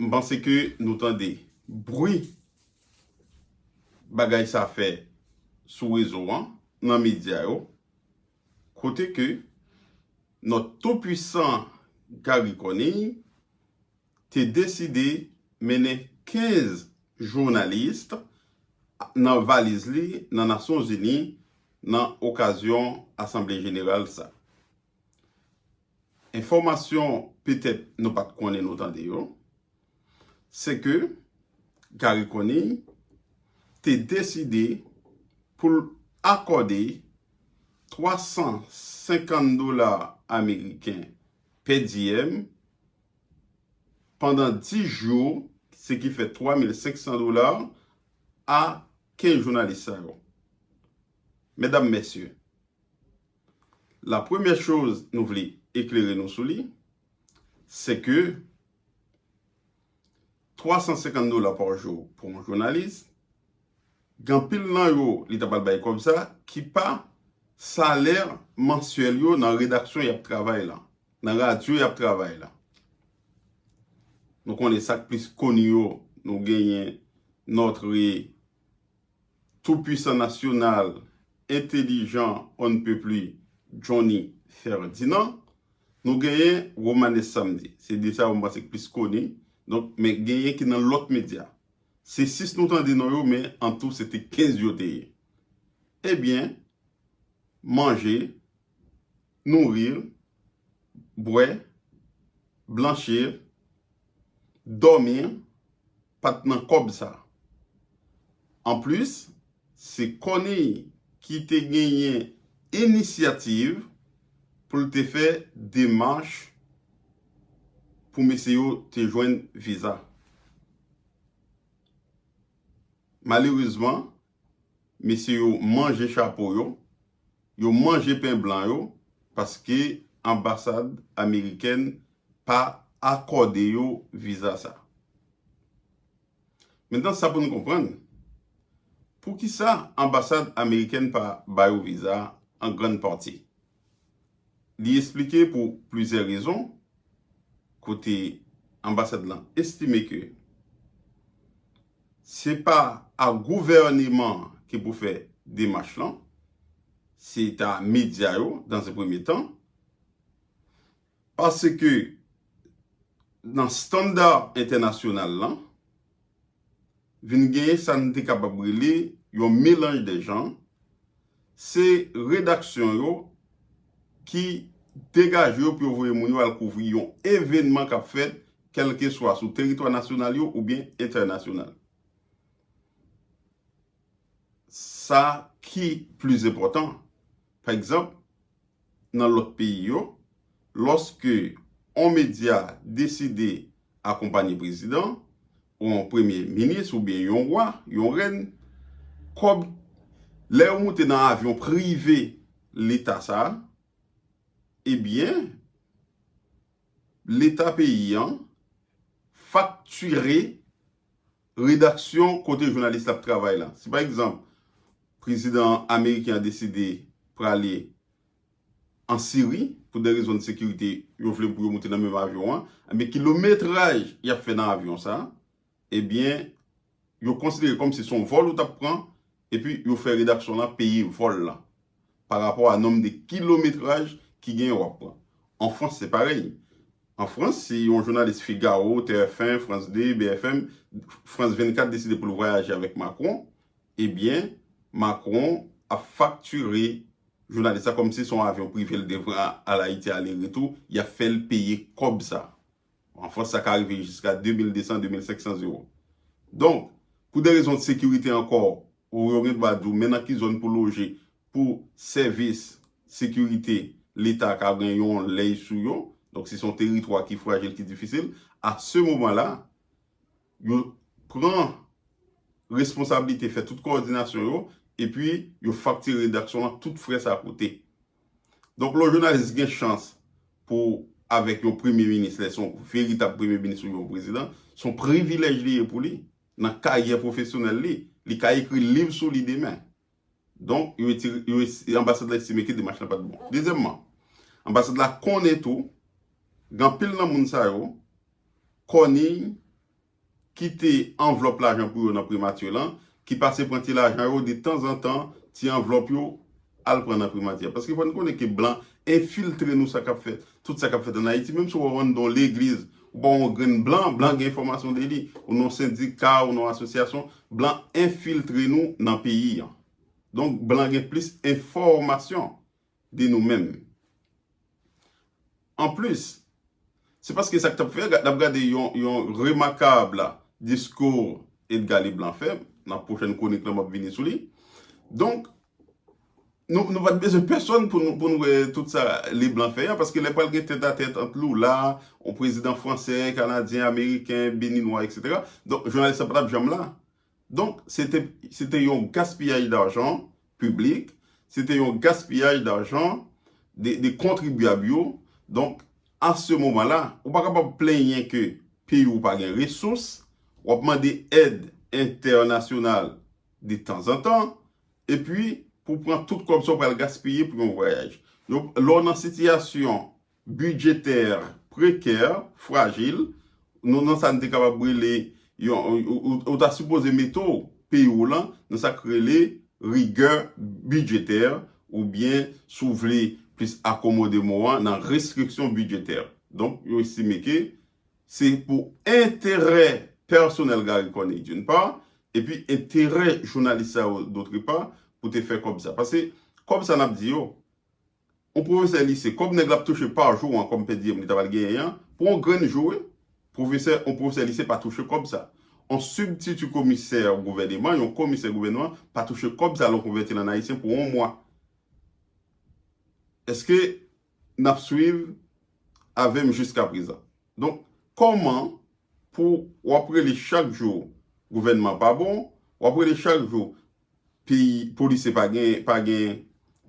M panse ke nou tande bri bagay sa fè sou rezo an, nan medya yo, kote ke nòt tou pwisan Garry Conille te deside mennen 15 journalist nan valiz li nan Nasyon Zini nan okazyon asanble jeneral sa. Enfòmasyon petèt nou pat konnen nou tande yo, se ke Garry Conille te deside pou l akòde 350 dola ameriken pè diyèm pandan 10 jou, se ki fè 3500 dola a 15 jounalis sa yo. Medam, mesye, La premyè choz nou vle eklere nou sou li, se ke 350 dola pa jou pou yon jounalis, gen anpil nan yo li ta pral bay kòb sa ki pa salè mansyèl yo nan redaksyon y ap travay lan, nan radyo y ap travay lan. Nou konnen sa k plis koni yo, nou genyen Notre Toupwisan nasyonal, entelijan onnpepli Johnny Ferdinand. Nou genyen Romanes Samedi. Se de sa yo m panse ki plis koni. Donk, men genyen ki nan lòt medya. Se 6 nou tande non yo men an tou se te 15 yo te ye. Ebyen, manje. nouri l, bwè, blanchi l, dòmi l, pa t nan kòb sa. Anplis, se Corneille ki te genyen inisyativ pou l te fè demach pou mesye yo te jwenn viza. Malerezman, Mesye yo manje chapo yo, yo manje pen blan yo paske anbasad amerikèn pa akòde yo viza sa. Mentan sa pou nou konprann, poukisa anbasad amerikèn pa ba yo viza an grann pati? Li esplike pou plizyè rezon kote anbasad lan estime ke se pa a gouvèneman an ki pou fè demach lan, se ta medya yo dans un premier temps. Paske nan standa entènasyonal la, vin genyen sa n te kapab rele yon melanj dè jan, se redaksyon yo ki degaje yo pou yo voye moun yo al kouvri yon evènman k ap fèt kèlkeswa sou teritwa nasyonal yo oubyen entènasyonal. Sa ki plis enpòtan, pa egzanp. nan lòt peyi yo, lòske on medya deside akonpanye prezidan, ou on premye minis oubyen yon wa, yon rèn, kòb, lè yo moute nan avyon prive leta sa, ebyen, leta peyi an fakture Redaksyon kote jounalis la ap travay la. Si pa egzanp, prezidan ameriken an deside prale an Siri, pou de rezon de sekirite, yo vle pou yo moute nan menm avyon an, enben kilometraj y ap fè nan avyon sa, ebyen yo konsidere kòm si son vòl ou t ap pran, epi yo fè redaksyon la peye vòl la. pa rapò a nonm de kilometraj ki genyen w ap pran. An Frans se parèy. An Frans, si yon jounalis Figaro, TFn, France 2, BFM, France 24 deside pou l vwayaje avèk Macron, ebyen Macron ap faktire jounalis la kòmsi se yon avyon prive l te pran al Ayiti ale retou, y ap fè l peye kòb sa. An Frans sa ka rive jiska 2200, 2500 euro. Donk, pou de rezon de sekirite ankò, ou yo gen dwa di w men nan ki zòn pou loje pou sèvis sekirite leta ka gen yon lèy sou yo. Donk si se yon teritwa ki frajil, ki difisil, a se moman la, yo pran responsablite fè tout kowòdinasyon yo epi yo faktire redaksyon an tout frè sa koute. Donk lè yon jounalis gen chans pou avèk yon premye minis lè se yon veritab premye minis oubyen yon prezidan, se yon privilèj li ye pou li nan karyè pwofesyonèl li. Li ka ekri liv sou li demen. Donk, anbasad la estime ke demach la pa t bon. Dezyèmman, anbasad la konnen tou gen anpil nan moun sa yo kòniy kite anvlòp lajan pou yo nan primati lan, ki pase pran ti lajan yo de tanzantan, ti anvlòp yo, al pran nan primati a. Paske fò n konnen ke blan enfiltre nou sa k ap fèt, tout sa k ap fèt ann Ayiti. Menm si w ap ann dan yon legliz, ou pa wè yon grenn blan, blan gen enfòmasyon de li, ou nan yon sendika, ou nan yon asosyasyon, blan enfiltre nou nan peyi an. Donk blan gen plis enfòmasyon. de nou menm. Anplis, se paske sa k t ap fè n ap gade yon remakab diskou Edga Leblan fè, nan pwochèn kwonik lan m ap vini sou li, donk nou pa t bezwen pèsonn pou nou wè tout sa Leblan fè a, paske lè pral gen tèt a tèt ant Lula, yon prezidan fransè, kanadyen, ameriken, beninwa, eksetera, donk jounalis la pa t ap janm la. Donk, se te, se te yon gaspiyaj darjan piblik, se te yon gaspiyaj darjan de, de kontribyab yo. Donk, a se moman la, ou pa kapab plenyen ke peyi ou pa gen resous, w ap mande èd entènasyonal de tanzantan, epi pou pran tout kòb sa ou pral gaspiye pou yon vwayaj. Yo, lè w nan sitiyasyon bidjetè prekè, frajil, nou nan sa n te kapab rele yon, ou ta sipoze mete w, peyi w lan, nan sa k rele rigè bidjetè oubyen si w vle plis akomode mo an, nan restriksyon bidjetè. Donk, yo estime ke se pou enterè pèsonèl Garry Conille d'une part, epi enterè jounalis sa yo d'autre part, pou te fè kòb sa. Pase kòb sa n ap di yo, Yon pwofesè lise, kòb nèg la ap touche pa jou an kòm pèdiyèm li ta pral genyen an, pou yon grenn jou wi, pwofesè, yon pwofesè lise pa touche kòb sa. Yon sibtiti komisè gouvèneman, yon komisè gouvèneman, pa touche kòb sa lè w konvèti l an ayisyen pou yon mwa. Èske n ap swiv avè m jiskaprezan? Donk, kòman pou w ap rele chak jou gouvènman pa bon, w ap rele chak jou peyi polisye pa gen pa gen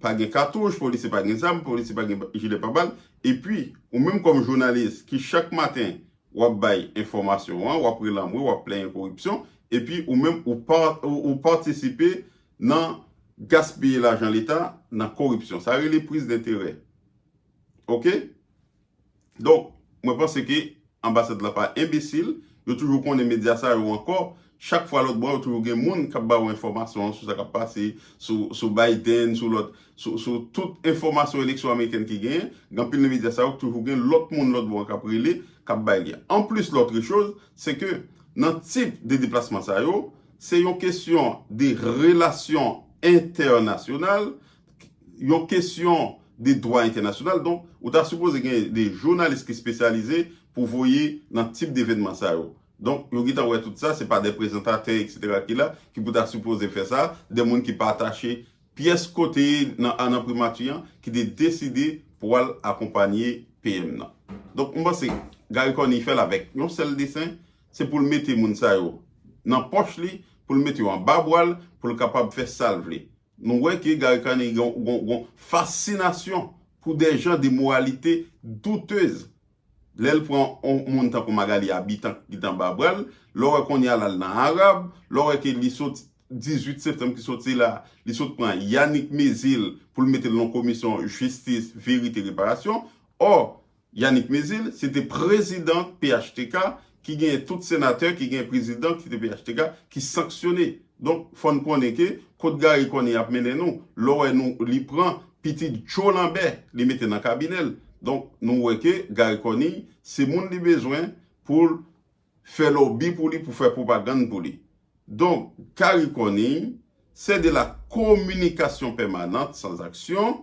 pa gen katouch polisye pa gen zam polisye pa gen jilè pa bal epi ou menm kòm jounalis ki chak maten wap bay enfòmasyon an wap relanmwe wap plenyen koripsyon epi ou menm ou pa ou patisipe nan gaspiye lajan leta nan koripsyon sa rele prizdenterè ok. Donk, mwen panse ke anbasad la pa enbesil, yo toujou konnen medya sa yo ankò, chak fwa lòt bò yo toujou gen moun k ap ba ou enfòmasyon sou sa k ap pase, sou Biden, sou lòt, sou tout enfòmasyon eleksyon amerikèn ki genyen, gen anpil nan medya sa yo k toujou gen lòt moun lòt bò an k ap rele, k ap bay li. Anplis lòtre choz, se ke nan tip de deplasman sa yo, se yon kesyon de relasyon entènasyonal, yon kesyon de dwa entènasyonal donk ou ta sipoze gen de jounalis ki spesyalize pou voye nan tip devenman sa yo donk yo gentan wè tout sa se pa de prezantatè etc ki la ki pou ta sipoze fè sa de moun ki pa atache pyès kote nan an nan primati an ki te deside pou al akonpanye PM nan donk m panse Garry Conille fèl avèk yon sèl desen se poul mete moun sa yo nan pòch li poul mete yo anba bwal poul kapab fè sal vle Nou wè ke Gary Conille gen yon fascinasyon pou de jan de moralite doutez. Lè l pran yon moun tankou Magalie Habitant ki t anba bra l, lè w wè kounye a l al nan Arab, lè w wè ke li sot 18 septanm ki soti la, li sot pran Yanick Mezil pou l mete l nan yon komisyon jistis, verite, reparasyon. Ò, Yanick Mezil se te prezidan phtk ki genyen tout senatè ki genyen prezidan ki te phtk ki sanksyone donk fò n konnen ke kot Garry Conille ap mennen nou lè w wè nou li pran pitit Joe Lambert li mete nan kabinè l donk nou wè ke Garry Conille se moun li bezwen pou l fè lòbi pou li pou fè pwopagann pou li donk Garry Conille sè de la kominikasyon pèmanant san zaksyon